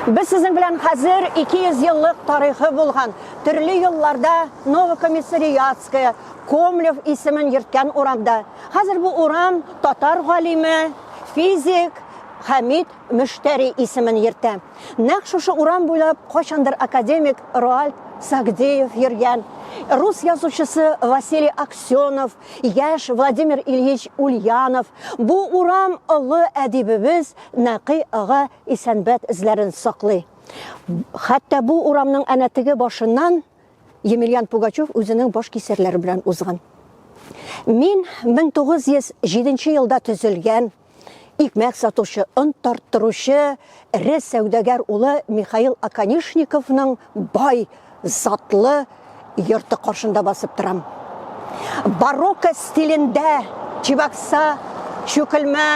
Без сезнең белән хәзер 200 еллык тарихы булган, төрле елларда Новокомиссариатская, Комлев исемен йөрткән урамда. Хәзер бу урам татар галиме, физик Хәмид Мөштәри исемен йөртә. Нәкъ шушы урам буйлап кайчандыр академик Роальд Сагдеев йөргән, рус язучысы Василий Аксенов, Яшь Владимир Ильич Ульянов, бу урам олы әдибебез Нәкый ага Исәнбәт эзләрен саклый. Хәтта бу урамның әнә теге башыннан Емельян Пугачев үзенең баш кисәрләре белән узган. Мин 1907 елда төзелгән Икмәк сатучы, он тарттыручы эре сәүдәгәр улы Михаил Аканишниковның бай, затлы йорты каршында басып торам. Барокко стилендә Чебокса, Чүкелмә,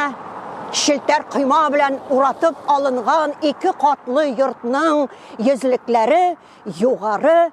челтәр койма белән уратып алынган ике катлы йортның йөзлекләре югары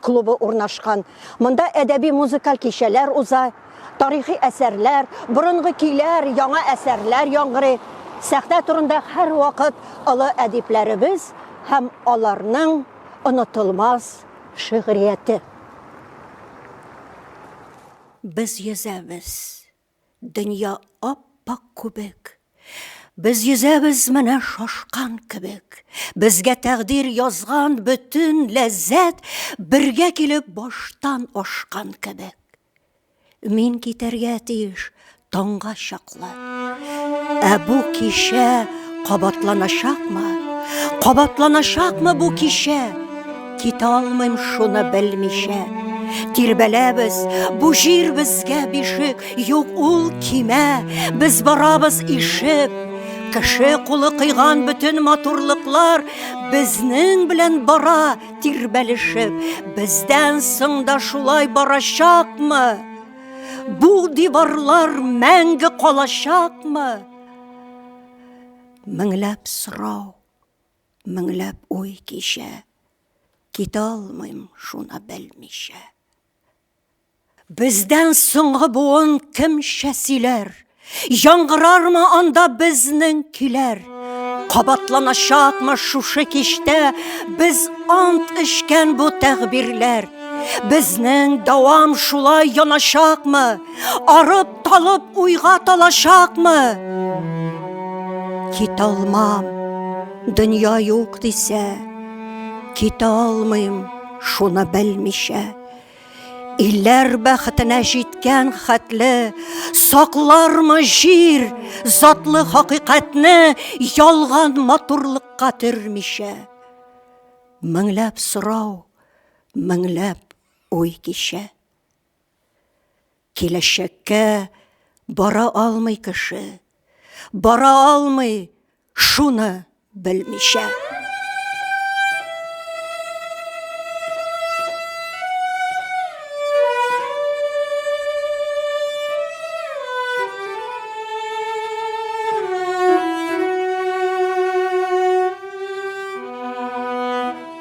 клубы урнашкан. Монда әдәби-музыкаль кичәләр уза, тарихи әсәрләр, борынгы көйләр, яңа әсәрләр яңгырый. Сәхнә турында һәрвакыт олы әдипләребез һәм аларның онытылмас шигърияте. Без йөзәбез. Дөнья ап-ак күбек. Без йөзәбез менә шашкан кебек. Безгә тәкъдир язган бөтен ләззәт бергә килеп баштан ашкан кебек. Мин китәргә тиеш таңга чаклы. Ә бу кичә кабатланачакмы? Кабатланачакмы бу кичә? Китә алмыйм шуны белмичә. Тирбәләбез, бу җир безгә бишек, юк ул кимә, без барабыз ишеп. Кеше кулы кыйган бөтен матурлыклар безнең белән бара тирбәлешеп. Бездән соң да шулай барачакмы? Бу диварлар мәңге калачакмы? Меңләп сорау Меңләп уй кичә, китә алмыйм шуна белмичә. Бездән соңгы буын кемчә сөйләр? Яңгырармы анда безнең көйләр? Кабатланачакмы шушы кичтә без ант эчкән бу тәгъбирләр? Безнең дәвам шулай яначакмы? Арып Талып уйга талачакмы? Кит алмам, дөнья юк дисә, кит алмыйм, шуны белмичә. Илләр бәхетенә җиткән хәтле саклармы җир затлы хакыйкатьне ялган матурлыкка төрмичә. Меңләп сорау, меңләп уй кичә. Киләчәккә бара алмый кеше, бара алмый шуны белмичә.